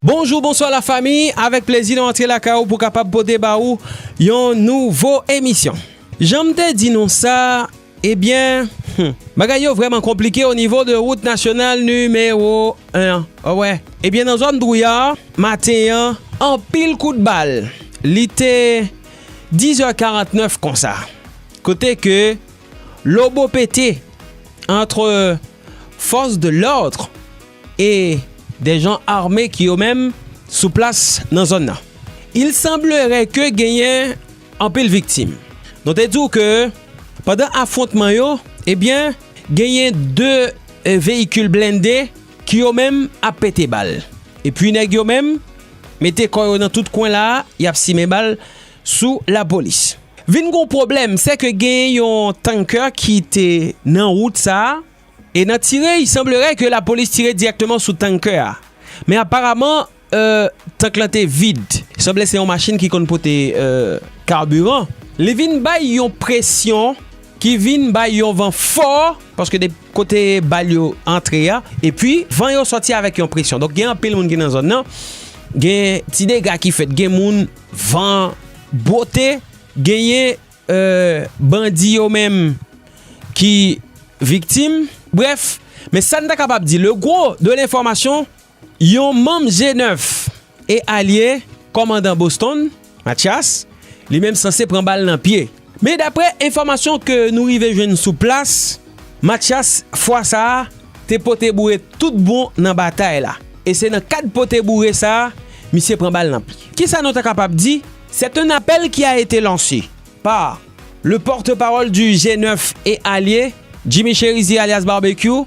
Bonjou bonswa la fami avèk plezi nou antre lakay ou pou kapab pote ba ou yon nouvo emisyon janm te di nou sa ebyen humm bagay yo vrèman konplike o nivo de wout nasyonal nimewo 1 an a wè ebyen nan zòn drouya maten an anpil kout bal li te 10 è 49 konsa kote ke lobo pete antre. fòs de lòdre e de jan ame ki yo menm sou plas nan zòn nan. Il sanblere ke genyen anpil viktim. Nou te di w ke pandan afwontman yo, ebyen genyen 2 veyikil blende ki yo menm ap pete bal. Epi nèg yo menm mete kò yo nan tout kwen la, y ap simen bal sou lapolis. Vin gon pwoblèm, sè ke gen yon tankè ki te nan wout sa a, e nan tire, i sanbleray ke lapolis tire dirèkteman sou tankè a. Men aparaman, tank lan te vid. Sanble se yon machin ki konn pote kaburan. Li vin bay yon presyon ki vin bay yon van fò, paske de kote bal yo antre a, e pi van yo sòti avèk yon presyon. Donk gen anpil moun ki nan zòn nan, gen ti dega ki fèt, gen moun Van bwote genyen bandi yo menm ki viktim. Brèf, men sa n ta kapab di le gwo de lenfòmasyon yon manm je nèf e alye kòmandan Boston, Matyas, li menm sanse pran bal nan pye. Men daprè enfòmasyon ke nou rive jwenn sou plas, Mathias fwa sa a te pote boure tout bon nan batay la. E se nan kad pote boure sa a misye pran bal nan pye. Kisa nou ta kapab di? C'est un appel qui a été lancé par le porte-parole du G9 et alliés, Jimmy Chérizier alias Barbecue,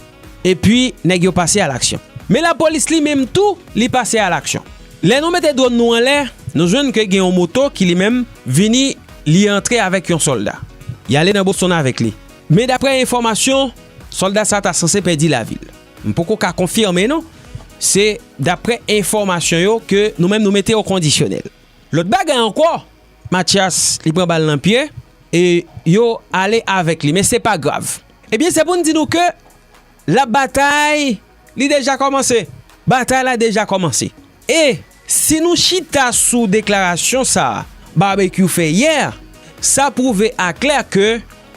epi nèg yo pase a laksyon. Men lapolis li menm tou li pase a laksyon. Lè nou mete dwòn nou anlè, nou jwenn ke gen yon moto ki li menm vini li antre avèk yon sòlda. Li ale nan Boston avèk li. Men daprè enfòmasyon, sòlda sa ta sanse pèdi lavi l. M poko ka konfime non, se daprè enfòmasyon yo ke nou menm nou mete o kondisyonèl. Lòt bagay ankò, Matyas li pran bal nan pye e yo ale avèk li men se pa grav. Ebyen se pou n di nou ke la batay li deja kòmanse. Batay la deja kòmanse. E si nou chita sou deklarasyon sa Barbecue fè yè sa pwouve aklè ke.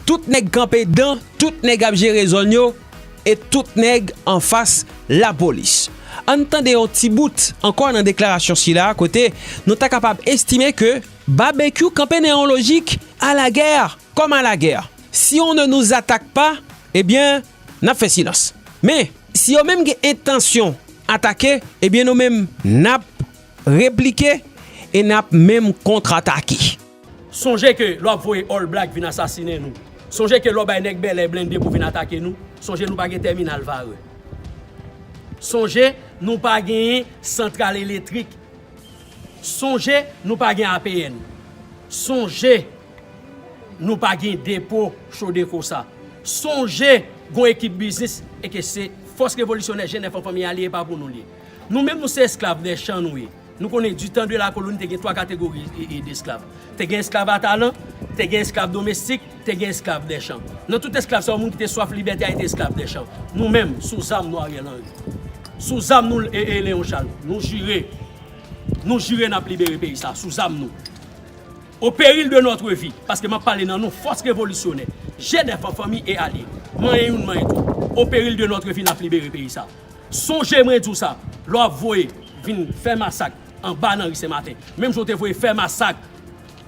Tout nèg kanpe dan, tout nèg ap jere zòn yo, e tout nèg anfas lapolis. An n tande yon ti bout ankò nan deklarasyon sila a kote nou ta kapab estime ke Babekyou kanpe nan yon lojik a la gè kòm a la gè. Si on ne nous attaque pas, e byen n ap fè silans. Men, si yo menm gen entansyon atake, e byen nou menm n ap replike e n ap menm kontratake. Sonje ke lè w ap voye All Black vin asasinen nou, sonje ke lè w bay nèg Bèlè blende pou vin atake nou, sonje nou pa gen tèminal vare, sonje nou pa gen santral eletrik, sonje nou pa gen APN, sonje nou pa gen depo Chodeco sa, sonje gon ekip biznis e ke se Fòs Revolisyonè Jenèf an Fanmi a li e pa pou nou li ye. Nou menm nou se esklav dè chan nou ye. Nou konnen du tan de la koloni te gen 3 kategori de esklav. Te gen esklav a talan, te gen esklav domestik, te gen esklav dè chan. Nan tout esklav sa yo moun ki te swaf libète a te esklav dè chan. Nou menm, sou zam nou Ariel Henry. Sou zam nou Léon Charles. Nou jire, nou jire nap libere peyi sa sou zam nou. Au péril de notre vie, paske map pale nan non fòs revolisyonè, jènèf an fanmi e alye. Manyen youn manyen tout. Au péril de notre vie nap libere peyi sa. Sonje mwen di w sa, lè w ap voye vin fè masak anba nan ri Sen Maten, menm jan w te voye fè masak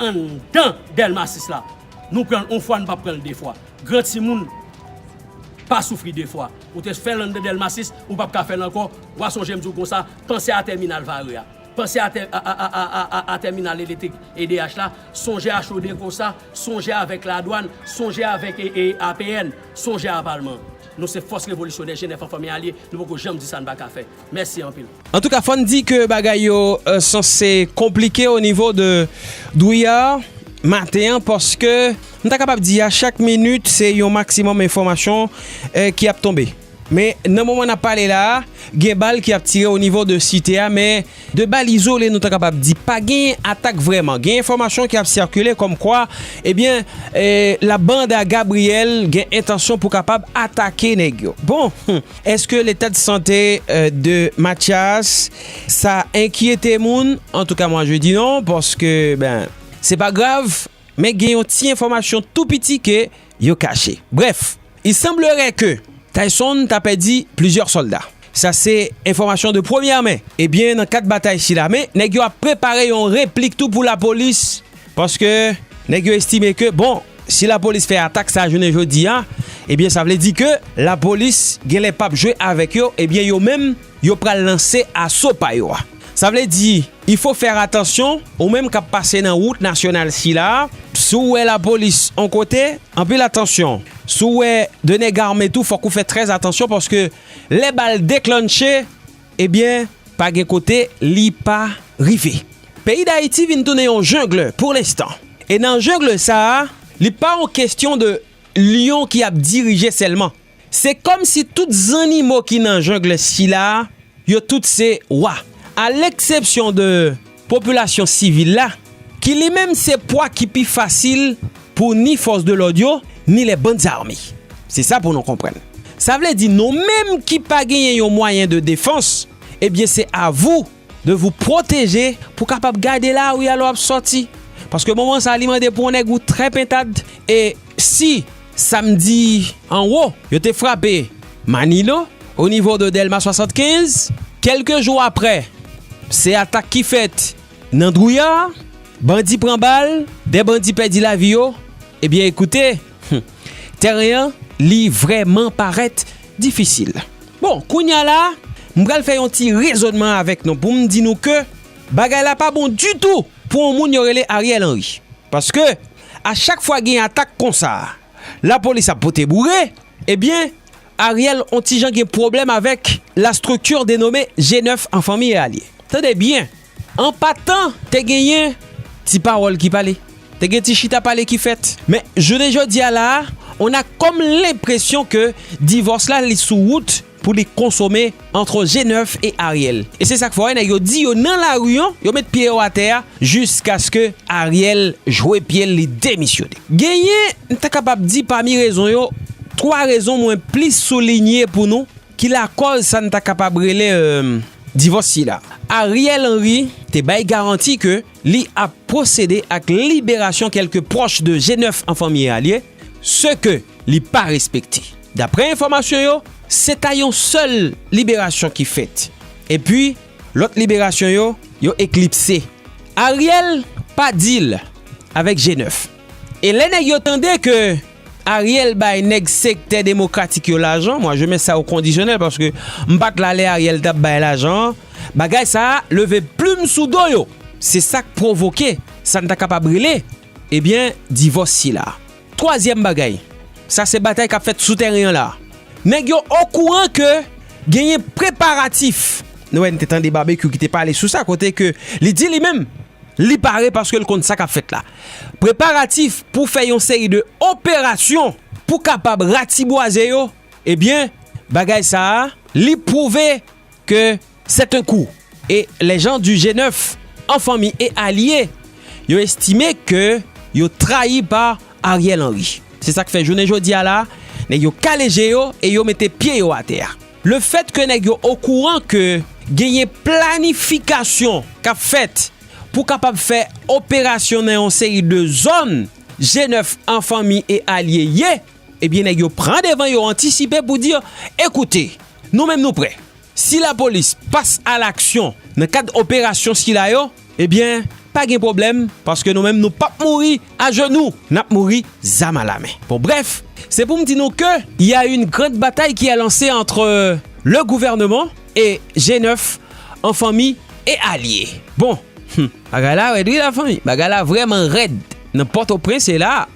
anndan Dèlma 6 la, nou pran l on fwa nou pa p pran l de fwa. Gran timoun pa soufri de fwa. Ou te fè l anndan Dèlma 6, ou pa p ka fè l ankò. W a sonje m di w konsa, panse a tèminal Varreux a. Panse a tèminal elektrik edh la. Sonje a Chaudecossa. Sonje avèk Ladwàn. Sonje avèk APN. Sonje a Palman. Nou se fòs revolisyonè Jenèf anfan men alye nou poko janm di sa n pa ka fè. Mèsi anpil. Antouka fò n di ke bagay yo sanse konplike o nivo de Drouillard maten an paske m ta kapab di a chak minit se yon maksimòm enfòmasyon ki ap tonbe. Men nan moman n ap pale la a gen bal ki ap tire o nivo de site a men. De bal izole nou ta kapab di pa genyen atak vrèman. Gen enfòmasyon ki ap sikile kòm kwa ebyen la banda Gabriel gen entansyon pou kapab atake nèg yo. Bon humm eske leta de sante de Matyas sa enkyete moun? Antouka mwa je di non paske ben se pa grav. Men gen yon ti enfòmasyon tou piti ke yo kache. Brèf, il semblerait que Tayson ta pèdi plizyè sòlda. Sa se enfòmasyon de premyè men. Ebyen nan kad batay sila men nèg yo ap prepare yon replik tou pou lapolis paske nèg yo estime ke bon si lapolis fè atak sa jounen jodi a ebyen sa vle di ke lapolis gen lè pap jwe avèk yo ebyen yo menm yo pral lanse aso pa yo a. Sa vle di. Il faut faire attention ou menm kap pase nan wout nasyonal sila a, si w wè lapolis on kote, anpil atansyon, si w wè 2 nèg ame tou fòk ou fè trè atansyon paske lè bal deklannche ebyen pa gen kote li pa rive. Peyi Dayiti vin tounen yon jungle pour l'instant e nan jungle sa a li pa on kestyon de lyon ki ap dirije sèlman. Se kòm si tout zannimo ki nan jungle sila a, yo tout se Wa. A leksepsyon de popilasyon sivil la, ki li menm se pwa ki pi fasil pou ni fòs de lòd yo, ni les bandes armées. Se sa pou nou konprann. Sa vle di nou menm ki pa genyen yon mwayen de defans, ebyen se a vou. de vou pwoteje pou kapab gade lari a lè w ap sòti paske moman sa li mande pou yon nèg ou trè pentad e si samdi anwo yo te frape Manilo onivo de Dèlma 75 kèlke jou aprè se atak ki fèt nan Drouillard bandi pran bal 2 bandi pèdi lavi yo ebyen ekoute humm. Tèren an li vrèman parèt difisil. Bon, kounye a la, m pral fè yon ti rezònman avèk nou pou m di nou ke bagay la pa bon ditou pou yon moun yo rele Ariel Henry. Paske, a chak fwa gen atak konsa, lapolis ap pote boure, ebyen, Ariel on ti jan gen pwoblèm avèk la structure denommée G9 en famille Allié. Tande byen! An patan, te genyen ti pawòl ki pale, te gen ti chita pale ki fèt. Men, jounen jodi a la a, on a kòm lenpresyon ke divòs la li sou wout pou li konsome antre G9 e Ariel. E se sa k fè wè nèg yo di yo nan lari an, yo met pye yo atè a jiskaske Ariel jwe pye l li demisyone. Genyen, m ta kapab di pami rezon yo, twa rezon mwen plis soulinye pou nou. ki lakòz sa n ta kapab rele divòs sila. Ariel Henry te bay garanti ke li ap pwosede ak liberasyon kèlke pwòch de G9 an fanmi Alie, se ke li pa respekte. Daprè enfòmasyon yo, se ta yon sèl liberasyon ki fèt, epi lòt liberasyon yo, yo eklipse. Ariel pa deal avèk G9, e lè nèg yo tande ke. Ariel bay nèg sektè demokratik yo lajan, moi je mets ça au conditionnel paske m pat la lè Ariel tap bay lajan an, bagay sa a leve plim sou do yo, se sak pwovoke sa n ta kapab rele ebyen divòs sila. Twazyèm bagay, sa se batay kap fèt sou tèren an la, nèg yo okouran ke genyen preparatif, nou wè n te tande Babekyou ki te pale sou sa kote ke li di li menm li pare paske l konn sa kap fèt la. Preparatif pou fè yon seri de operasyon pou kapab ratibwaze yo, ebyen bagay sa a li pwouve ke c'est un coup et les gens du G9 en famille et alliés yo estime ke yo trayi pa Ariel Henry. Se sa k fè jounen jodi a la nèg yo kale je yo e yo mete pye yo atè a. Le fèt ke nèg yo okouran ke genyen planifikasyon k ap fèt pou kapab fè operasyon nan yon seri de zòn G9 an fanmi e alye ye, ebyen nèg yo pran devan yo antisipe pou di, ekoute, nou menm nou prè. Si lapolis pas alaksyon nan kad operasyon sila yo, Ebyen, pa gen pwoblèm, paske nou menm nou p ap mouri ajenou, n ap mouri zam a lamen. Bon brèf, se pou m di nou ke il y a une grande bataille qui est lancée entre le gouvernement et G9 en famille et allié. Bon, hum! Bagay la rèd wi la fanmi, bagay la vrèman rèd nan Pòtoprens e la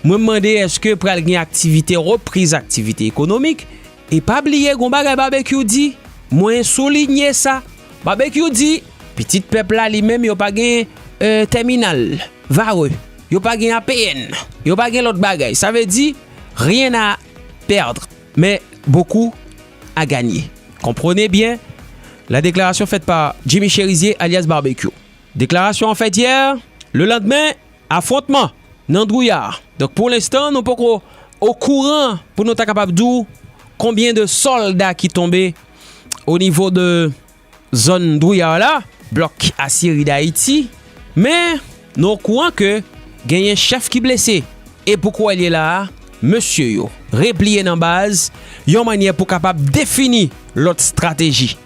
mwen m mande èske pral gen aktivite, repriz aktivite ekonomik? E pa bliye gon bagay Babekyou di, mwen soulinye sa, Babekyou di, pitit pèp la li menm yo pa gen tèminal, vare, yo pa gen APN, yo pa gen lòt bagay, sa vle di, rien à perdre, mais beaucoup à gagner. Comprenez bien la déclaration faite par Jimmy Chérizier alias Barbecue. Deklarasyon an fèt yè, lelandmen, Afwontman nan Dwouya. Donk pou lenstan nou poko okouran pou nou ta kapab di w konbyen de sòlda ki tonbe o nivo de zòn Dwouya la, blòk Asyeri Dayiti. Men nou okouran ke genyen chèf ki blese. E pou kou wè l ye la a, mesye yo repliye nan baz yon mannyè pou kapab defini lòt strateji.